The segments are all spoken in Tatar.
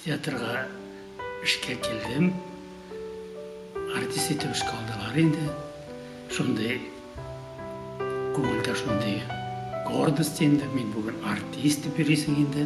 Театрга эшкә килдем. Артист итеп эшкә алдылар инде. Шундый күңелдә шундый гордость инде, мин бүген артист дип йөрисең инде.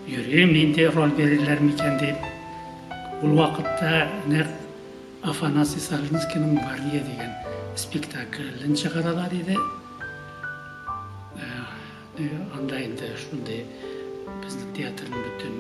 Йөрим, нинди роль бирерләр микән дип. Ул вакытта нәкъ Афанасий Савинскийның Мария дигән спектаклен чыгаралар иде. Анда инде шундый безнең театрның бөтен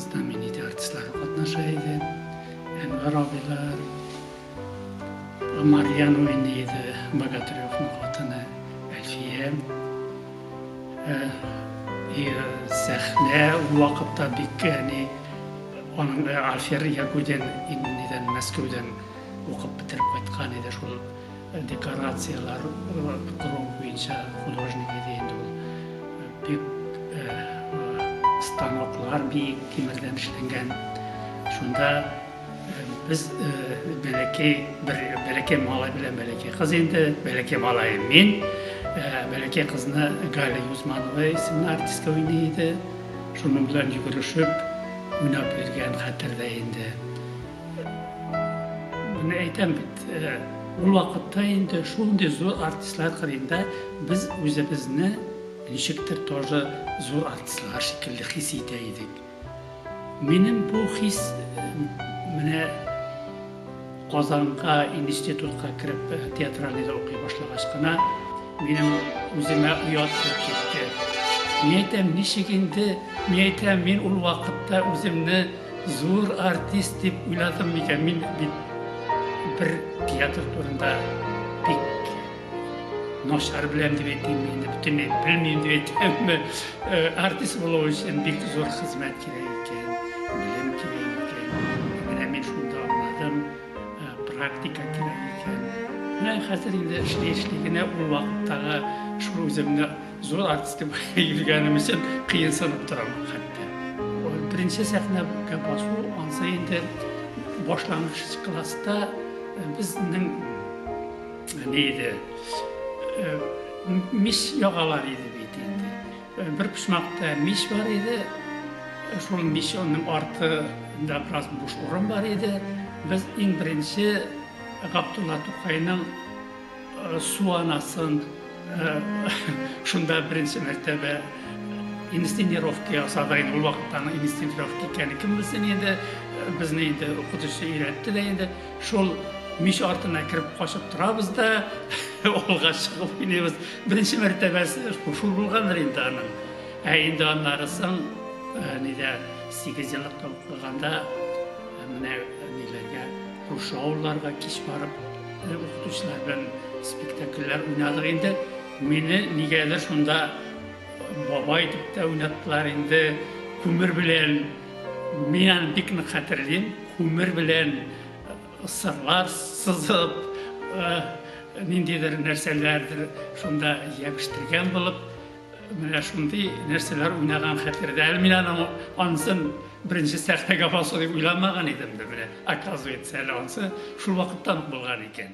знаменитый артистлары катнаша иде. Әнвәр абыйлар, Марьян уйный иде, Богатыревның хатыны Әлфия. И сәхнә ул вакытта бик әни аның Альфер Ягудин инде Мәскәүдән укып бетереп кайткан иде шул. Декорацияләр кору буенча художник иде инде ул. Бик станоклар биек тимердән эшләнгән. Шунда без бәләкәй бер бәләкәй малай белән бәләкәй кыз инде, бәләкәй малай мин, бәләкәй кызны Галя Юзманова исемле артистка уйный иде. Шуның белән йөгерешеп уйнап йөргән хәтердә инде. Менә әйтәм бит, э, ул вакытта инде шундый зур артистлар кырында без үзебезне ничектер тоже зур артистлар шикелле хис итә идек. Минем бу хис э, менә Казанга институтка кереп э, театральныйда укый башлагач кына минем үземә оят китте. Мин әйтәм, ничек инде, мин әйтәм, мин ул вакытта үземне Зур артист дип уйладым микән мин бит бер театр турында бик начар беләм дип әйтим инде бөтенләй белмим дип әйтәмме э, артист булу өчен бик зур хезмәт кирәк икән белем кирәк икән менә мин шунда аңладым э, практика кирәк икән менә хәзер инде эшли эшли генә ул вакыттагы шул үземне Зур артист дип йөргәнем өчен кыенсынып торам хәтта. Беренче сәхнәгә басу ансы инде башлангыч класста безнең ни иде? Мис ягалар иде бит инде. Бер почмакта мис бар иде. Шул мисның артында бераз буш урын бар иде. Без иң беренче Габдулла Тукайның Су анасын шунда беренче мәртәбә инстинировка ясады. Инде ул вакытта аның инстинировка икәнен кем белсен инде. Безне инде укытучы өйрәтте дә инде. Шул мич артына кереп качып торабыз да, олга чыгып уйныйбыз. Беренче мәртәбәсе шул булгандыр инде аның. Ә инде аннары соң э, нидә 8 еллык табып калганда э, менә ниләргә, күрше авылларга кич барып Без укытучылар белән спектакльләр уйнадык инде. Мине нигәдер шунда бабай дип тә уйнаттылар инде. Күмер белән мин аны бик нык хәтерлим. Күмер белән сырлар сызып, ниндидер нәрсәләрдер шунда ябештергән булып, Менә шундый нәрсәләр уйнаган хәтердә. Әле мин аның ансын беренче сәхнәгә басу дип уйламаган идем дә, менә оказывается, әле ансы шул вакыттан ук булган икән.